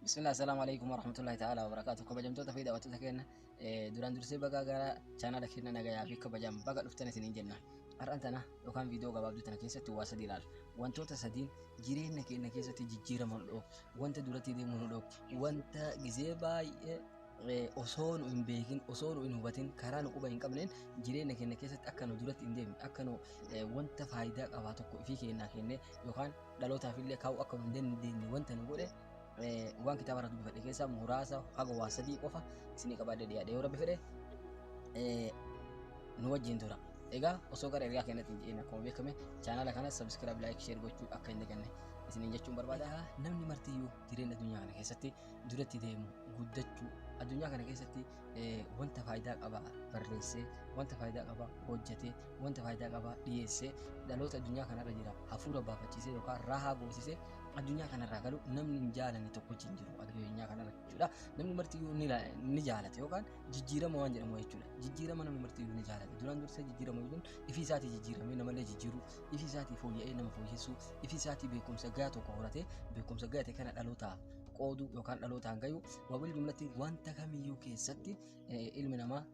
Bismillah assalamu alaikum warahmatullahi ta'ala wabarakatuh kabajamtoota fi daawwattoota keenya duraan dursee baga gara chaanala keenya nagayaa fi kabajaan baga dhuftan isiniin jenna har'an tana yookaan viidiyoo gabaabduu tana keessatti waa sadii ilaala wantoota sadiin jireenya keenya keessatti jijjiirama nu dhoobu wanta duratti deemu nu dhoobu wanta gizee baay'ee osoo nu hin beekin osoo nu hin hubatin karaa nu quba hin qabneen jireenya keenya keessatti akka nu duratti hin deemne akka nu wanta faayidaa qabaa tokko ifii keenyaa kennee yookaan dhalootaaf illee kaa'uu akka hin dandeenye wanta nu godhe waan kitaaba irraa dubbifadhe keessaa muraasa haga waa sadii qofa isinii qabaadde dhiyaadhe yoo rabbi fedhe nu wajjin tura. Egaa osoo gara ergaa keenyatti hin jedhin akkuma beekame chaanaala kana sabiskiraayib laayik sheer gochuu akka hin daganne isiniin jechuun barbaada. Namni martiyyuu jireenya addunyaa kana keessatti duratti deemu guddachuu addunyaa kana keessatti wanta faayidaa qaba barreessee wanta faayidaa qaba hojjetee wanta faayidaa qaba dhiyeessee dhaloota addunyaa kanarra jira hafuura baafachiisee yookaan raahaa goosisee addunyaa kanarraa galu namni hin jaalanne tokkochi hin jiru addunyaa kanarra jechuudha namni marti iyyuu ni la- ni jaalate yookaan jijjiirama waan jedhamu jechuudha jijjiirama namni marti iyyuu ni jaalate duraan dursee jijjiirama jechuun ifii isaatii jijjiiramee namallee jijjiiruu ifii isaatii fooyya'ee nama fooyyessuu ifii isaatii beekumsa gahaa tokko horatee beekumsa gahaa ta'e kana dhalootaaf qooduu yookaan dhalootaan gayuu wabil jumlatti wanta kamiyyuu keessatti ilmi namaa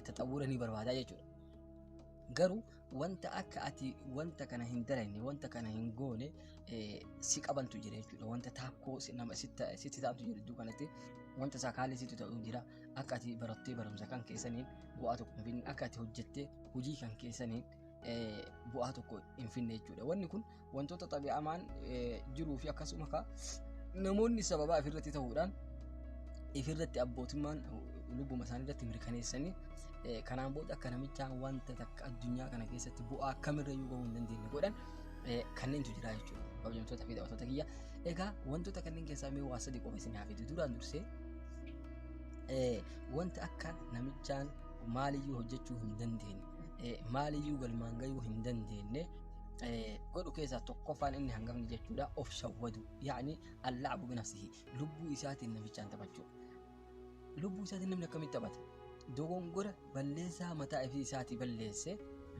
taxawwura ni barbaada jechuudha. Garuu wanta akka ati wanta kana hin dalanne wanta kana hin goone si qabantu jira jechuudha. Wanta taakkoo nama sitti taa'amtu jira iddoo kanatti wanta isaa kaalli sitti ta'u jira. Akka ati barattee barumsa kan keessaniin bu'aa tokko hin finne akka ati hojjettee hojii kan keessaniin bu'aa tokko hin finne jechuudha. Wanni kun wantoota xabi'amaan jiruu fi akkasuma ka namoonni sababaa ifirratti ta'uudhaan ifirratti abbootummaan lubbuma isaanii irratti mirkaneessanii kanaan booda akka namichaa wanta takka addunyaa kana keessatti bu'aa kamirra iyyuu gahuu hin dandeenye godhan kanneentu jira jechuudha. Kabajamtoota fi daawwattoota kiyya. Egaa wantoota kanneen keessaa mee waa sadii qofa isin haafetu duraan dursee wanta akka namichaan maaliyyuu hojjechuu hin dandeenye maaliyyuu galmaan gahuu hin dandeenye godhu keessaa tokkoffaan inni hangafni jechuudha of shawwadu yaani allaabu binafsihi lubbuu isaatiin namichaan taphachuu lubbuu isaatiin namni akkamitti taphata dogongora balleessaa mataa ifii isaatii balleesse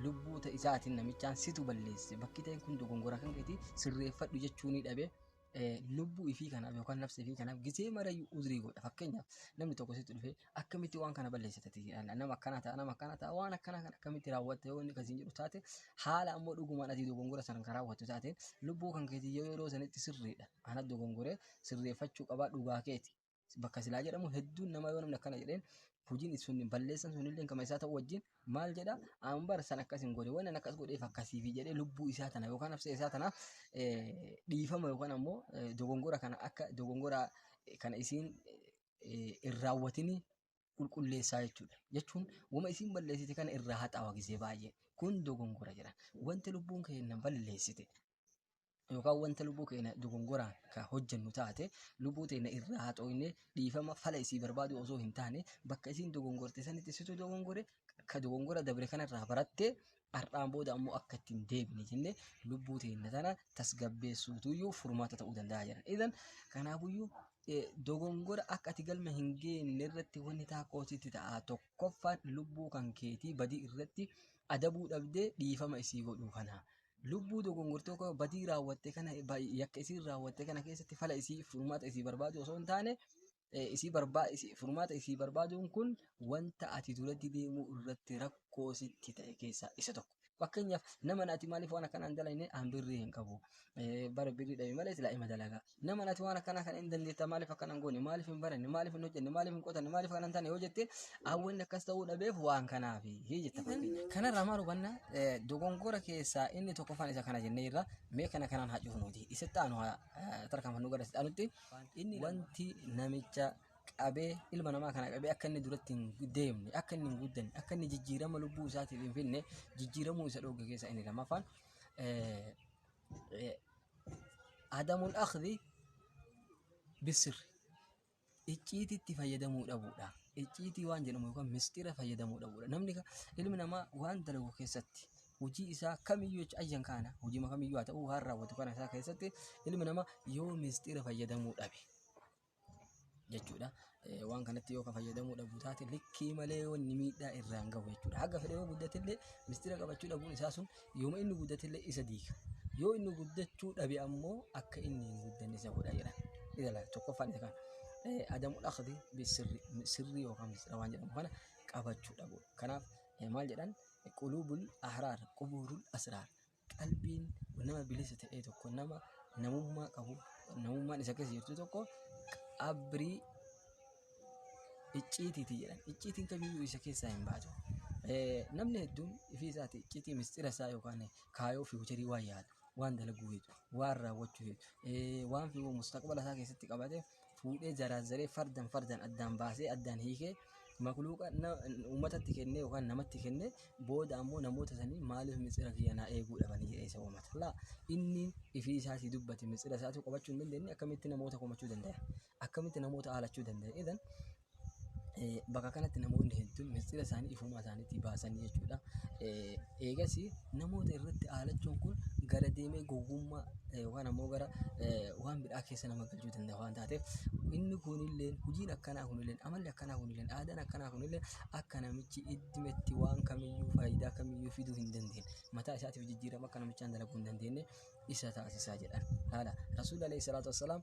lubbuu ta isaatiin namichaan situ balleesse bakki ta'een kun dogongora kan keeti sirreeffadhu jechuu ni dhabe lubbuu ifii kanaaf yookaan nafsa ifii kanaaf gisee marayyuu uzrii godha fakkeenyaaf namni tokko sitti dhufee akkamitti waan kana balleessa taate nama akkana ta'a nama akkana ta'a waan akkana kana akkamitti raawwatte yoo inni kasiin jedhu taate haala ammoo dhugumaan ati dogongora sana kan raawwattu taate lubbuu kan keetii yoo yeroo sanitti sirriidha ana dogongoree sirreeffachuu qabaa dhugaa keeti bakka silaa jedhamu hedduun nama yoo namni akkana jedheen hojiin sun balleessan sun illee kama isaa ta'u wajjin maal jedha an bar san akkas hin godhe waan akkas godheef akkasiifi jedhee lubbuu isaa tana yookaan absee isaa tana dhiifama yookaan ammoo dogongora kana akka dogongora kana isiin hin raawwatini qulqulleessaa jechuudha. Jechuun wama isiin balleessite kana irraa haxaawa gisee baay'ee kun dogongora jedha. Wanti lubbuun keenya balleessite yookaan wanta lubbuu keenya dogongoraan kan hojjennu taate lubbuu teenya irraa haa xooyne dhiifama fala isii barbaadu osoo hin taane bakka isiin dogongorte sanitti situ dogongore ka dogongora dabre kanarraa baratte har'aan booda ammoo akka itti hin deebine jenne lubbuu teenya tana tasgabbeessuutuyyuu furmaata ta'uu danda'a jedhan. Idan kanaafuyyuu eh, dogongora akka ati galma hin geenne irratti wanni taakkoositti ta'a tokkoffaan lubbuu kan keetii badii irratti adabuu dhabdee dhiifama isii godhuu kana. lubbuu dogongortoo koo badii raawwatte kana ba- yakka isiin raawwatte kana keessatti fala isii furmaata isii barbaadu osoo hin taane eh, isii barbaa isii- furmaata isii barbaaduun kun wanta ati duratti deemuu irratti rakkoo sitti ta'e keessaa isa tokko. Fakkeenyaaf nama ati maaliif waan akkanaan dalayne aan birrii hin qabu. Eh, Bara birrii dhabe malee silaa ima dalagaa. Naman ati waan akkanaa kana hin dandeettaa maaliif akkana hin goone maaliif hin baranne maaliif hin hojjenne maaliif hin qotanne maaliif akkana hin taane yoo jette hawwanni akkas ta'uu dhabeef waan kanaaf jetta fakkeenya. Kanarraa maal hubanna Eh, dogongora keessaa inni tokkoffaan isa kana jennee irra mee kana kanaan haa cufnuuti isatti aanu haa eh, tarkaanfannu gara isatti aanutti wanti namicha qabee ilma namaa kana qabee akka inni duratti hin deemne akka inni hin guddanne akka inni jijjiirama lubbuu isaatiif hin finne jijjiiramuu isa dhooge keessaa inni lammaffaan eh, Adamul akhdi bisir icciitii itti fayyadamuu dhabuudha. Icciitii waan jedhamu yookaan mistira fayyadamuu dhabuudha. Namni ilmi namaa waan dalagu keessatti hojii isaa kamiyyuu jecha ayyan kaana hojii kamiyyuu haa ta'u waan raawwatu kana isaa keessatti ilmi namaa yoo mistira fayyadamuu dhabe jechuudha. Eh, Waan kanatti yoo ka fayyadamuu dhabu taate likkii malee wanni miidhaa irraan gahu jechuudha. Haga fedhe yoo guddatillee mistira qabachuu dhabuun isaa sun yooma inni guddatillee isa diiga. Yoo inni guddachuu dhabe ammoo akka inni hin guddanne isa godha jedha. Ilala tokkoffaan isa kana. Eh, Adamul akhdi bisirri sirri yookaan mistira waan jedhamu kana qabachuu dhabu. Kanaaf eh, maal jedhan qulubul ahraar qubuurul asraar qalbiin nama bilisa ta'e tokko nama namummaa qabu namummaan isa keessa jirtu tokko qabrii icciitiiti jedhan icciitiin kamiyyuu isa keessaa hin baatu. Eh, Namni hedduun ifii isaati icciitii mistira isaa yookaan kaayoo fi hojirii waan yaada waan dalaguu heetu waan raawwachuu heetu eh, waan fi mustaqbala isaa keessatti qabate fuudhee zaraazzaree fardan fardan addaan baasee addaan hiikee makluuqa uummatatti kennee yookaan namatti kennee booda ammoo namoota sanii maaliif mitsira kiyya naa eeguu dhabanii jedhee isa uummata. Laa inni ifii isaatii dubbate mitsira isaatu qabachuu hin dandeenye akkamitti namoota komachuu dandaya akkamitti namoota haalachuu dandaya idan bakka kanatti namoonni hedduun mistira isaanii ifumaa isaaniitii baasan jechuudha. Eegas namoota irratti aalachuun kun gara deemee gowwummaa yookaan ammoo gara waan bidhaa keessa nama galchuu danda'a waan taateef inni kunillee hojiin akkanaa kunillee amalli akkanaa kunillee aadaan akkanaa kunillee akka namichi iddimetti waan kamiyyuu faayidaa kamiyyuu fiduu hin dandeenye mataa isaatiif jijjiirama akka namichaan dalaguu hin dandeenye isa taasisaa jedhan. Haala Rasuulli alayhi salaatu wassalaam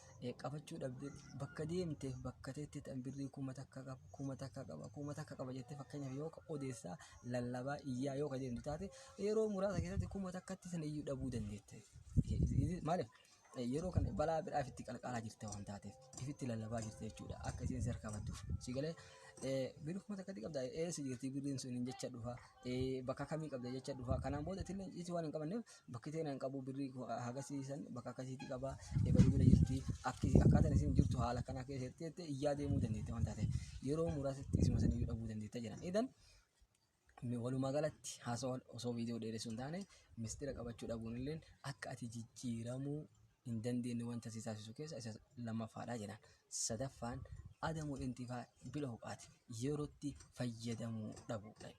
Eh, qabachuu dhabde bakka deemteef bakka teetti tan birrii kuma takka qaba kuma takka qaba kuma takka qaba jettee fakkeenyaaf yoo ka- odeessaa lallabaa iyyaa yoo ka deemtu taate yeroo muraasa keessatti kuma takkatti sana iyyuu dhabuu dandeette. Eh, is- is- Maaliif? Eh, Yeroo kana balaa biraaf itti qalqaalaa jirte waan taateef ifitti lallabaa jirte jechuudha akka isiin si harkaa badduuf. Si galee eh, birrii kuma takkatti qabda eessa jirti birriin sun hin jecha dhufa eh, bakka kamii qabda jecha dhufa kanaan booda itillee isi waan hin qabanneef bakki ta'e nan qabu birrii koo hagasii san bakka akkasiitti qaba ebaluu bira jirti akki akkaataan isin jirtu haala kanaa keessatti jettee iyyaa deemuu dandeette waan taate yeroo muraasatti isuma saniyyuu dhabuu dandeetta jedhan idan mi- walumaa galatti haasawaa osoo viidiyoo dheeressuun taane mistira qabachuu dhabuun illee akka ati jijjiiramuu hin dandeenye wanta si taasisu keessa isa lammaffaadha jedhan sadaffaan adamu intifaa bila huqaati yerootti fayyadamuu dhabuudha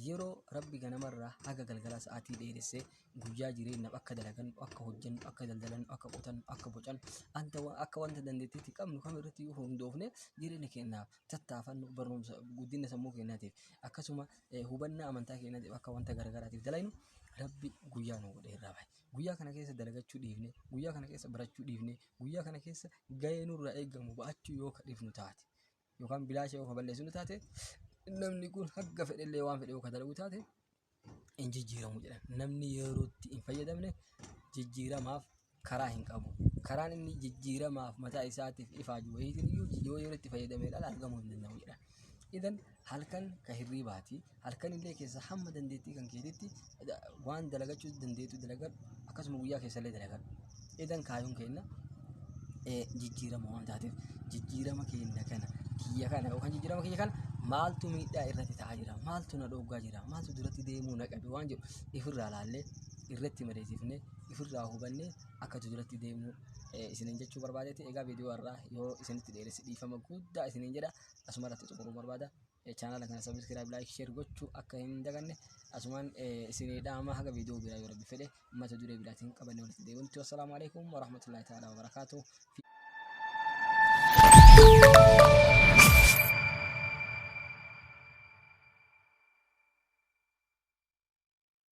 Yeroo Rabbi ganamarraa haga galgalaa sa'aatii dheeresse, guyyaa jireennaaf akka dalagannu, akka hojjennu, akka daldalannu, akka qotannu, akka bocannu, anta wa- akka wanta dandeettii itti qabnu kamirrattiyyuu hundoofnee jireenya keennaaf tattaafannu, barumsa, guddinna sammuu keennaatiif, akkasuma eh, hubannaa amantaa keennaatiif akka wanta garagaraatiif dalaynu Rabbi guyyaa nuu godhee irraa bahe. Guyyaa kana keessa dalagachuu dhiifnee, guyyaa kana keessa barachuu dhiifnee, guyyaa kana keessa gahee nurraa eegamu ba'achuu yoo ka dhiifnu taate, yookaan bilaasha yoo ka balleessu taate namni kun hagga fedhellee waan fedhe yoo ka dalagu taate hin jijjiiramu jedhan. Namni yerootti hin fayyadamne jijjiiramaaf karaa hin qabu. Karaan inni jijjiiramaaf mataa isaatiif ifaaju wayiitiin iyyuu yoo yerootti fayyadamee dhala argamuu hin danda'u jedhan. Idan halkan ka hirriibaati halkan illee keessa hamma dandeettii kan keetitti da- waan dalagachuu dandeettu dalagadhu akkasuma guyyaa keessa illee dalagadhu edan kaayuun keenna eh, jijjiirama waan taateef jijjiirama keenna kana kiyya kana yookaan jijjiirama kiyya kana maaltu miidhaa irratti ta'aa jira maaltu na dhooggaa jira maaltu duratti deemuu na qabe waan jedhu ifirraa laallee irratti madeessifnee ifirraa hubannee akkatu duratti deemuu eh, isinin jechuu barbaadeeti egaa viidiyoo irraa yoo isinitti dheeresse dhiifama guddaa isinin jedha asuma irratti xumuruu barbaada Chaanaala kana sabiskiraayib laayik sheer gochuu akka hin daganne asumaan isinii dhaama haga viidiyoo biraa yoo rabbi fedhe mata duree biraatiin qabanne walitti deebinutti wassalaamu alaikum warahmatullaahi ta'aalaa wabarakaatuh.